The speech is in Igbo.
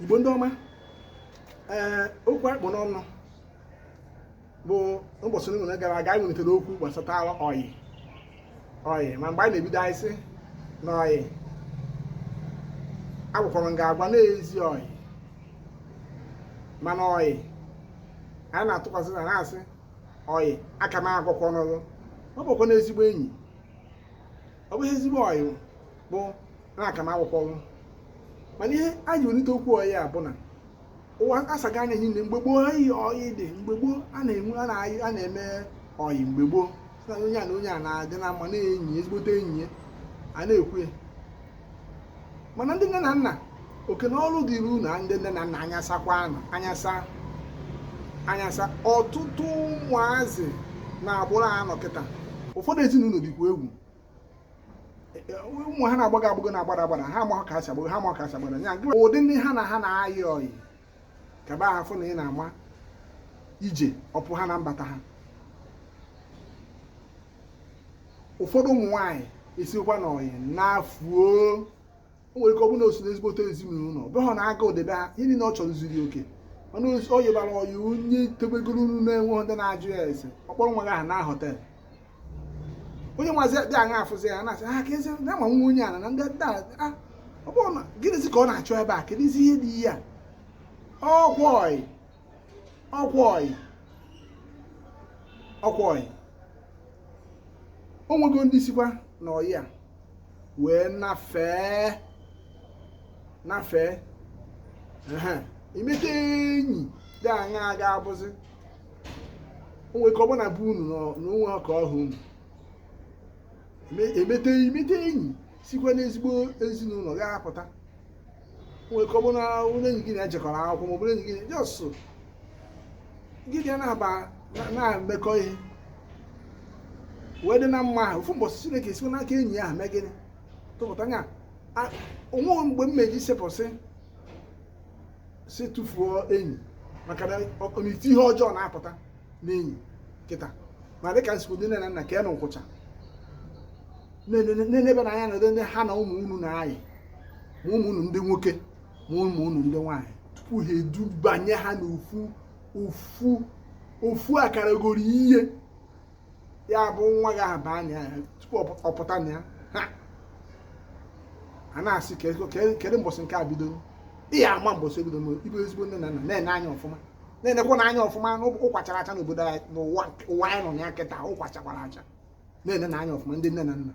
igbo ndị ọma ee okwu a kpụ n'ọnụ bụ mbọsị niile gara aga anyị nwetara okwu gbasatara ọyị ọyị ma mgbe anyị na-ebido anyị sị na ọyị agwakwara m ga-agwa n'ezi ọyị mana ọyị anyị na-atụkwasị na na-asị ọyị aka m agwakwa ọnụrụ ọ bụkwa n'ezigbo enyi ọ bụghị ezigbo ọyị bụ na aka m akwụkwọnwụ mana ihe a ji welite okwu ọyị a bụ na ụwa asago anya niile mgbe gboo ha iyi ọyị dị mgbe gboo a na-enwe a na-ayị a na-eme ọyị mgbe gboo sị na onye a na onye a na-adị na mma na-enyi ya, ezigbote enyi ya a na-ekwu ya mana ndị nne na nna oke na ọrụ dịrị unu ndị nne na nna anya sakwanụ anya saa anya saa ọtụtụ ụmụazị na-agbụrụ anọ kịta ụfọdụ ezinụlọ dịkwa egwu ụmụ ha na-agbago agbago na-agbada agbada ha amaghị ka ha si agbago ha amaghị ka ha si agbada ya ụdị ndị ha na ha na-ayị ọyị kaba ha fụ na ị na-ama ije ọpụ ha na mbata ha ụfọdụ ụmụ nwaanyị esikwa n'ọyị na-efu o o nwere ike ọ bụrụ na o si n'ezigbote ezinụlọ ọ bụrụ na a ga-edebe ha ihe niile ọ chọrọ zuru oke mana ọ yịbara ọyị onye tebegoro unu na enweghị ndị na-ajụ ya ese ọ kpọrọ nwa gị gaa na hotel onye nwazi dị aṅa afụzi ya na-asị ha ka ezi na ama nwa onye ala na ndị ndị ala ah, ọ bụrụ na gịnịzi ka ọ na-achọ ebe a kedụzi ihe dị ihe a ọkwa ọyị ọkwa ọyị ọkwa ọyị o nwego ndị sikwa na ọyị a wee nafee nafee i meta enyi dị aṅa ọ ga-abụzi onwe ka ọbụla bụ unu na o nwe ka ọ ha unu emete i meta enyi sikwa n'ezigbo ezinụlọ ga-apụta nwere ike ọ bụrụ na onye enyi gị na ya jekọrọ akwụkwọ ma ọ bụrụ enyi gị just gị bịa na-aba na- na-emekọ ihe wee dị na mma ahụ ofu mbọsị chineke esiwe n'aka enyi ahụ mee gịnị tụpụta nya a- o nweghị mgbe m meji sepụsị sị tụfuo enyi maka na ọ- ọ na-asị ihe ọjọọ na-apụta n'enyi kịta ma dịka m si kwu ndị nne na nna ka unu kwụcha na-enebenụ anya na ndị ha na ụmụ unu na-ayị ma ụmụ unu ndị nwoke ma ụmụ unu ndị nwaanyị tupu ha edubanye ha n'ofu ofu ofu akalogoli ihe ya bụ nwa gị ahụ baa na ya tupu ọ pụta na ya a na-asị kedu mbọsị nke a bidoro ị ya-ama mbọsị o bidoro ị bụ ezigbo nne na nna na-ene anya ọfụma na-enekwanụ anya ọfụma ụkwa chara acha n'obodo anyị n'ụwa ụwa anyị nọ na ya kịta ụkwa chakwara acha na-enenụ anya ọfụma ndị nne na nna